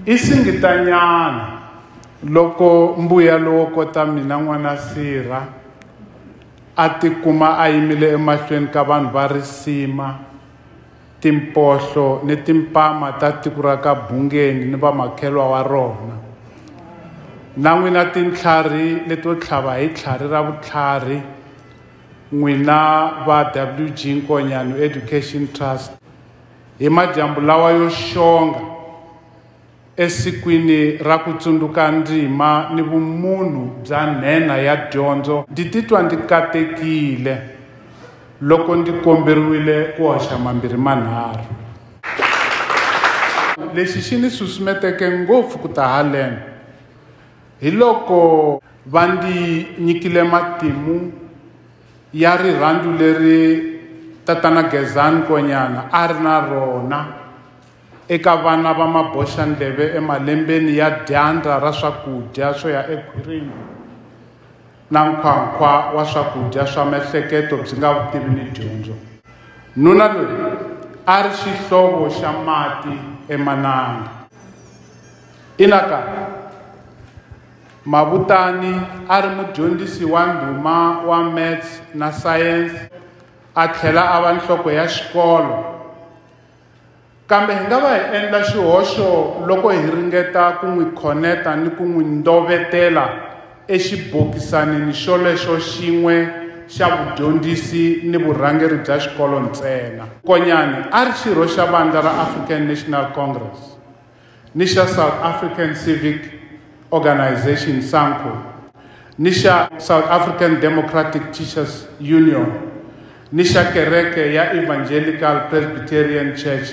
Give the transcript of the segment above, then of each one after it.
I singitanyana loko mbuyelo wo kota mina n'wana Sirha a tikuma a yimile emahlweni ka vanhu va risima timpohlo ni timpama ta tiko ra ka Bungeni ni vamakhelwa wa rona na n'wina tintlhari leto tlhava hi tlhari ra vutlhari n'wina va WG Nkonyano Education Trust Hi madyambu lawa yo xonga, esikwini ra ku tsundzuka ndzima ni vumunhu bya nhenha ya dyondzo, ndzi titwa ndzi katekile loko ndzi komberiwile ku hoxa mambirhi manharhu. Lexi xi ni susumeteke ngopfu ku ta haleno hiloko va ndzi nyikile matimu. ya rirhandzu leri tatana Gezani Konyana a ri na rona eka vana va maboxandleve emalembeni ya dyandza ra swakudya swo ya ekhwirini na nkhwankhwa wa swakudya swa mehleketo byi nga vutivi ni dyondzo nuna loyi a ri xihlovo xa mati emananga inaka Mabutani a ri mudyondzisi wa ndhuma wa Maths na Science a tlhela a va nhloko ya xikolo. Kambe hi nga va hi endla xihoxo loko hi ringeta ku n'wi khoneta ni ku n'wi ndovetela exibokisanini xolexo xin'we xa vudyondzisi ni vurhangeri bya xikolo ntsena. Konyani a ri xirho xa vandla ra African National Congress. ni xa South African Civic Organisation, SANCO, ni xa South African Democratic Teachers Union, ni xa kereke ya Evangelical Presbyterian Church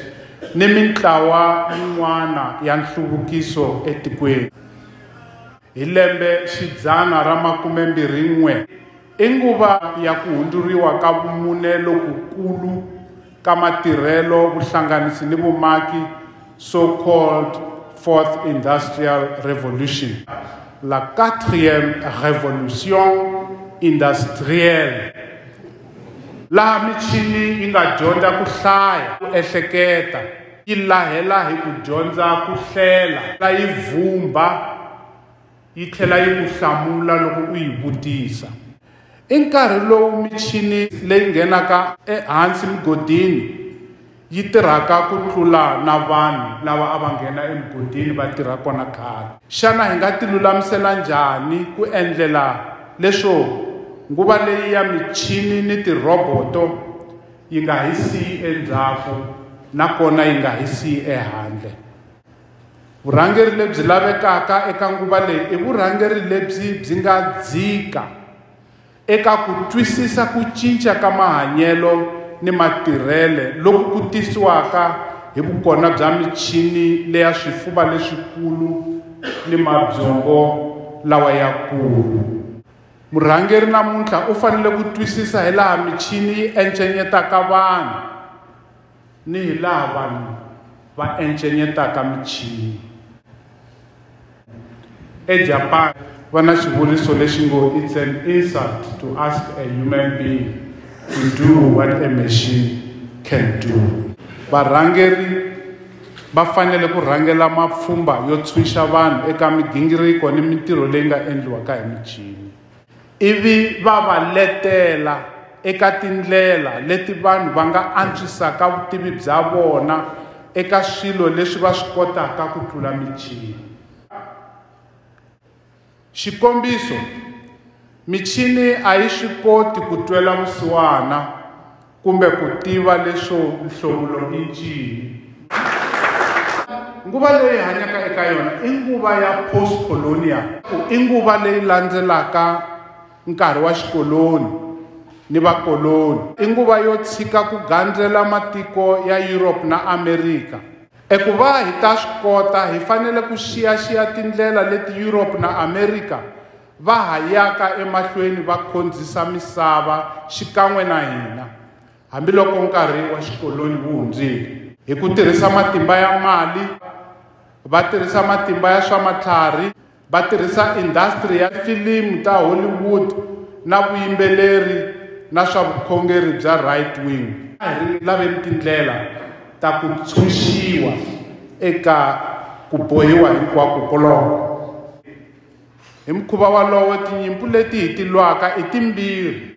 ni mintlawa yin'wana ya nhluvukiso etikweni. Hi lembe xidzana ra makumembirhi-n'we, i nguva ya ku hundzuriwa ka vumune lokukulu ka matirhelo, vuhlanganisi ni vumaki, so called Fourth Industrial Revolution, la Quatrième Révolution Industrielle, laha michini yi nga dyondza ku hlaya, ku ehleketa, yi lahela hi ku dyondza ku hlela la yi vhumba yi tlhela yi ku hlamula loko u yi vutisa i nkarhi lowu michini leyi nghenaka ehansi mugodini yi tirhaka ku tlula na vanhu lava a va nghena emugodini va tirha kona khale xana hi nga tilulamisela njhani ku endlela leswo nguva leyi ya michini ni tirhoboto yi nga hi siyi endzhaku nakona yi nga hi siyi ehandle vurhangeri lebyi lavekaka eka nguva leyi i vurhangeri lebyi byi nga dzika eka ku twisisa ku cinca ka mahanyelo ni matirhele loku ku tisiwaka hi vukona bya michini leya swifuva leswikulu ni mabyongo lawa ya kulu Murhangeri namuntlha u fanele ku twisisa hi laha michini yi encenyetaka vanhu ni hi laha vanhu va encenyetaka michini. EJapan va na xivuriso lexi ngo it's an insult to ask a human being to do what a machine can do. Varhangeri va fanele ku rhangela mapfhumba yo tshunxa vanhu eka migingiriko ni mintirho leyi nga endliwaka hi michini ivi va va letela eka tindlela leti vanhu va nga antswisaka vutivi bya vona eka swilo leswi va swi kotaka ku tlula michini Xikombiso, michini a yi swi koti ku twela vusiwana kumbe ku tiva leswo nhlomulo i ncini. Nguva leyi hi hanyaka eka yona i nguva ya post-colonial. I nguva leyi landzelaka nkarhi wa xikoloni ni vakoloni. I nguva yo tshika ku gandzela matiko ya Europe na Amerika. Eku va hi ta swi kota, hi fanele ku xiyaxiya tindlela leti Yuropa na Amerika va ha yaka emahlweni va khondzisa misava xikan'we na hina, hambiloko nkarhi wa xikolonyi wu hundzile. Hi ku tirhisa matimba ya mali, va tirhisa matimba ya swa matlhari, Va tirhisa indasitiri ya filimu ta Hollywood na vuyimbeleri na swa vukhongeri bya right-wing. A hi laveni tindlela ta ku ntshunxiwa eka ku bohiwa hinkwako koloko. Hi mukhuva wolowo, tinyimpu leti hi ti lwaka i timbirhi.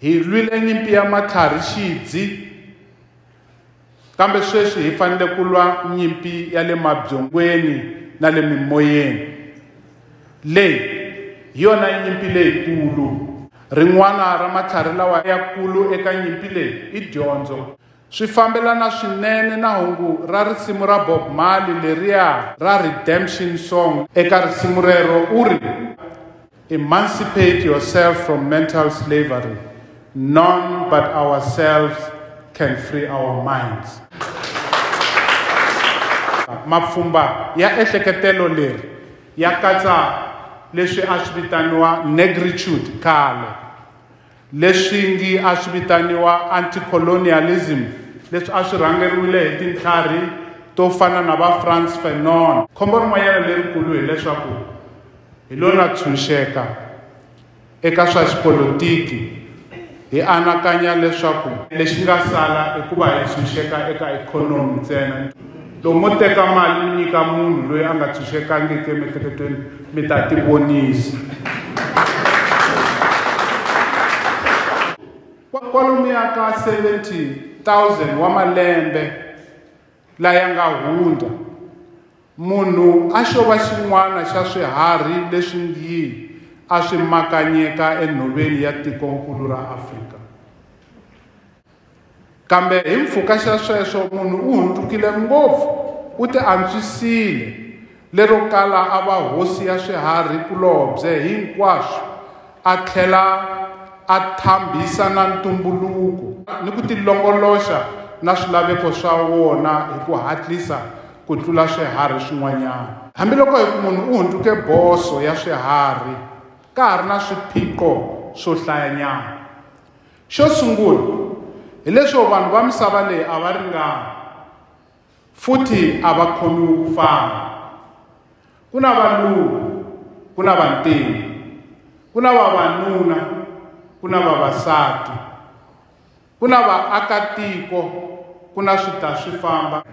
Hi lwile nyimpi ya matlhari xidzi, kambe sweswi hi fanele ku lwa nyimpi ya le mabyongweni na le mimoyeni. Leyi hi yona nyimpi leyikulu. Rin'wana ra matlhari lawa yakulu eka nyimpi leyi i dyondzo. Swi fambelana swinene na hungu ra risimu ra Bob Marley leriya ra Redemption Song. Eka risimu rero u ri, Emancipate yourself from mental slavery, none but ourselves can free our minds. Mapfhumba ya ehleketelo leri ya katsa leswi a swi vitaniwa negritude khale. Leswi ngi a swi vitaniwa anti-colonialism leswi a swi rhangeriwile hi tintlharhi to fana na va Frantz Fanon. Khombo rin'wanyana lerikulu hi leswaku hi lo na tshunxeka eka swa xipolitiki hi anakanya leswaku. Lexi nga sala i ku va hi tshunxeka eka ikhonomi ntsena. Loko mo teka mali mi nyika munhu loyi a nga tshunxekangiki emiehleketweni mi ta tivonisa kwalomuya ka 70000 wa malembe laya nga hundza munhu a xo va xin'wana xa swiharhi leswi ngi a swi makanyeka enhoveni ya tikonkulu ra afrika Kambe hi mpfhuka xa sweswo munhu u hundzukile ngopfu, u ti antswisile, lero kala a va hosi ya swiharhi kulobye hinkwaswo, a tlhela a thambisa na ntumbuluko ni ku tilongoloxa na swilaveko swa wona hi ku hatlisa ku tlula swiharhi swin'wanyana. Hambiloko hi ku munhu u hundzuke boso ya swiharhi, ka ha ri na swiphiqo swo hlayanyana. Xo sungula, hi leswo vanhu va misava leyi a va ringani futhi a va khomiwi ku fana. Ku na valungu, ku na vantima, ku na vavanuna, ku na vavasati, ku na vaakatiko, ku na swita-swi-famba.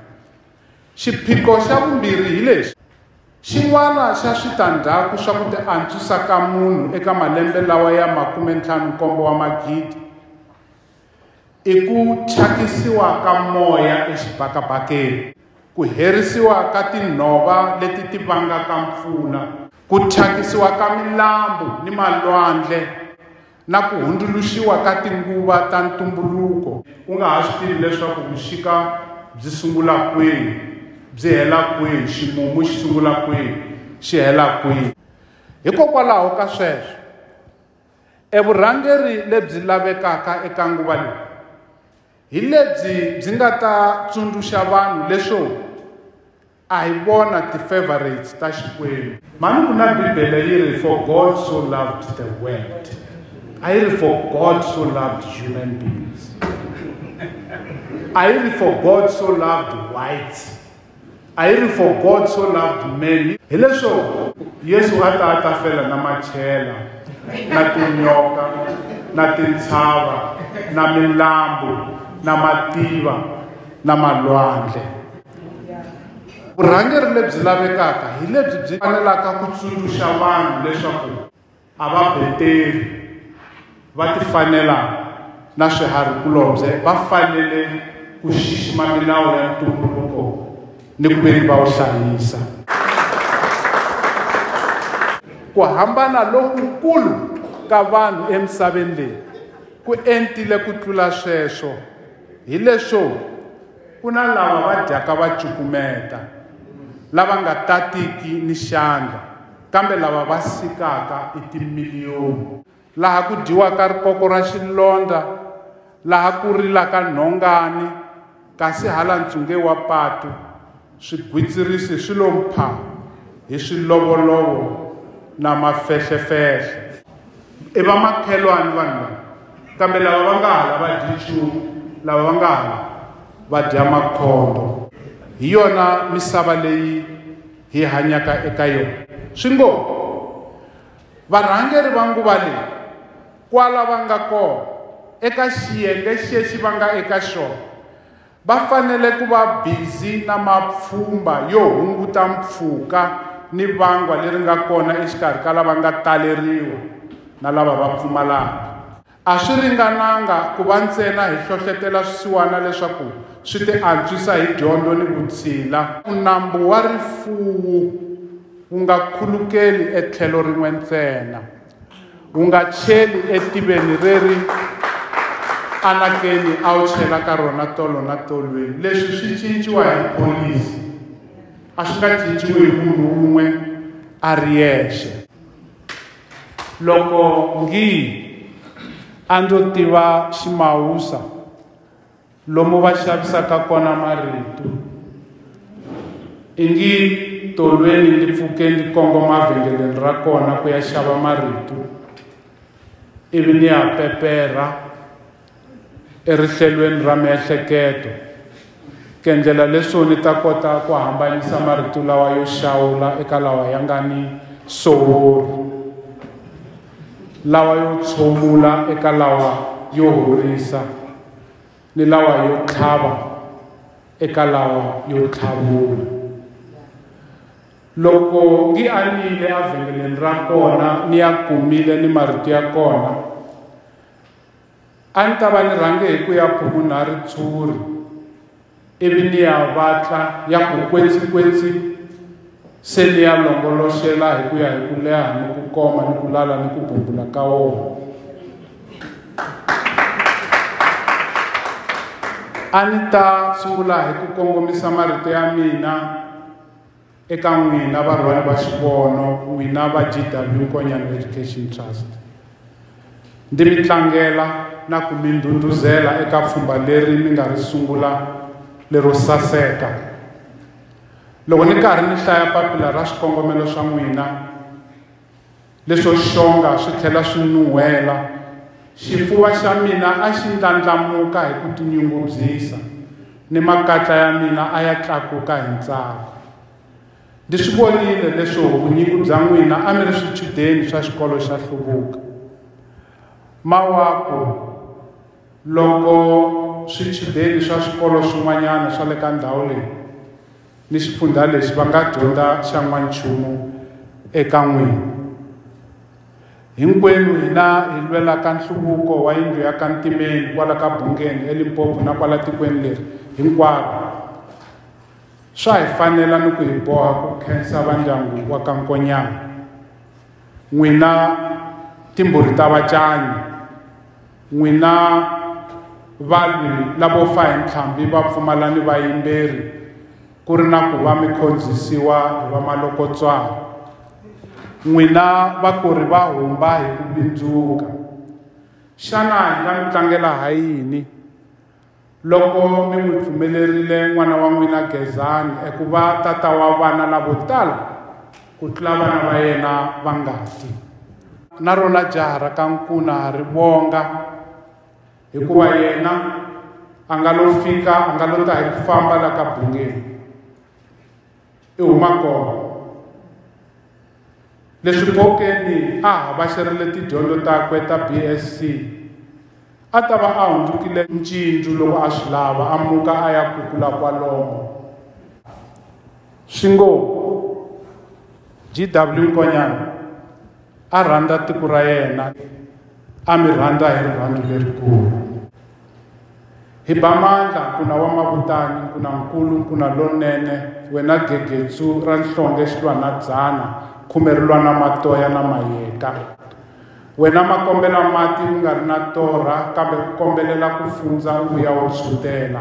Xiphiqo xa vumbirhi hi lexi. Xin'wana xa switandzhaku swa ku tiantswisa ka munhu eka malembe lawa ya makume ntlhanu nkombo wa magidi i ku thyakisiwa ka moya exibakabakeni, ku herisiwa ka tinhova leti ti vangaka mpfula, ku thyakisiwa ka milambu ni malwandle, na ku hundzuluxiwa ka tinguva ta ntumbuluko u nga ha swi tivi leswaku vuxika byi sungula kwihi byi hela kwihi ximumu xi sungula kwihi xi hela kwihi hikokwalaho ka sweswo evurhangeri lebyi lavekaka eka nguva leyi hi lebyi byi nga ta tsundzuxa vanhu leswo A hi vona ti favourites ta Xikwembu. Mhani ku na Bibele yi ri for God so loved the world. A yi ri for God so loved human beings. A yi ri for God so loved whites. A yi ri for God so loved men. Hi leswo Yesu a ta a ta fela na machela na tinyoka na tintshava na milambu na mativa na malwandle. vurhangeri lebyi lavekaka hi lebyi byi fanelaka ku tsundzuxa vanhu leswaku a va beteri va tifanela na swiharhikulobye va fanele ku xixima milawu ya ntumbuluko ni ku veni va wu hlayisa ku hambana lokukulu ka vanhu emisaveni leyi ku entile ku tlula sweswo hileswo Ku na lava va dyaka va cukumeta, lava nga tatiki ni xandla, kambe lava va sikaka i timiliyoni. Laha ku dyiwaka rikoko ra xilondza, laha ku rilaka nhongani, kasi hala ntshunge wa patu, Swigwitsirisi swi lo mpha hi swilovolovo na mafehlefehle. I vamakhelwani vanhu lava, kambe lava va nga hala va dyi nchumu, lava va nga hala va dya makhondo. Hi yona misava leyi hi hanyaka eka yona. Swi ngo, Varhangeri va nguva leyi, kwala va nga kona, eka xiyenge xexi va nga eka xona, Va fanele ku va bizi na mapfhumba yo hunguta mpfhuka ni vangwa leri nga kona exikarhi ka lava nga taleriwa na lava va pfumalaka. A swi ringananga ku va ntsena hi hlohlotela swisiwana leswaku swi tiantswisa hi dyondzo ni vutshila. Nambu wa rifuwo wu nga khulukeli etlhelo rin'we ntsena. wu nga cheli etiveni reri anakeni a wu chela ka rona tolo na tolweni leswi swi cinciwa hi pholisi a swi nga cinciwi hi munhu wun'we a ri yexe loko ngi a ndzo tiva ximawusa lomu va xavisaka kona marito ingi tolweni ndzi pfuke ndzi kongoma vhengeleni ra kona ku ya xava marito ivi ni ya peperha erihlelweni ra miehleketo ku endlela leswo ni ta kota ku hambanyisa marito lawa yo xawula eka lawa ya nga ni sowori lawa yo tshomula eka lawa yo horisa ni lawa yo tlhava eka lawa yo tlhavula loko ngi a nile evhengeleni ra kona ni ya kumile ni marito ya kona A ni ta va ni rhange hi ku ya phumuna ritshuri ivi ni ya vatla ya ku kwetsikwetsi se ni ya longoloxela hi ku ya hi ku leha ni ku koma ni ku lala ni ku bumbula ka wona a ni ta sungula hi ku kongomisa marito ya mina Eka n'wina varhwali va xivono, n'wina va GW Konyani Education Trust, ndi mi tlangela na ku mi ndhundhuzela eka pfhumba leri mi nga ri sungula lero saseka. Loko ni karhi ni hlaya papila ra swikongomelo swa n'wina, Leswo xonga swi tlhela swi nuhela, xifuva xa mina a xi ndlandlamuka hi ku tinyungubyisa, ni makatla ya mina a ya tlakuka hi ntsako. Ndzi swi vonile leswo vunyingi bya n'wina a mi ri swichudeni swa xikolo xa hluvuka. Mawaku loko swichudeni swa swikolo swin'wanyana swa le ka ndhawu leyi, ni xifundzha lexi va nga dyondza xa n'wanchumu eka n'wini hinkwenu hina hi lwelaka nhluvuko wa yindlu ya ka ntimeni kwala ka bungeni elimpopo na kwala tikweni leri hinkwaro swa hi fanela ni ku hi boha ku khensa vandyangu wa ka nkonyana n'wina timbhuri ta vacanyi N'wina valwi lavo fa hi ntlhambi va pfumala ni vayimberi ku ri na ku va mi khondzisiwa hi vamalokotswana n'wina vakori va humba hi ku bindzuka xana hi nga mi tlangela ha yini Loko mi n'wi pfumelerile n'wana wa n'wina Gezani eku va tata wa vana lavo tala ku tlula vana va yena va ngati, na rona jaha ra ka nkuna ri vonga, hikuva yena a nga lo fika, a nga lo ta hi ku famba la ka bungeni. i huma kona leswi bokeni a havhaxerile tidyondzo takwe ta bsc a ta va a hundzukile ncindzu loko a swi lava a muka a ya kukula kwalomo swi ngo gw nkonyana a rhandza tiko ra yena a mi rhandza hi rirhandzu lerikulu hi ba mandla nkuna wa mavutani nkunankulu nkuna lonene wena gegetsu ra nhlonge xi lwa na dzana khume ri lwa na matoya na mayeka wena ma kombela mati u nga ri na torha kambe u kombelela ku fundza u vuya u tshutela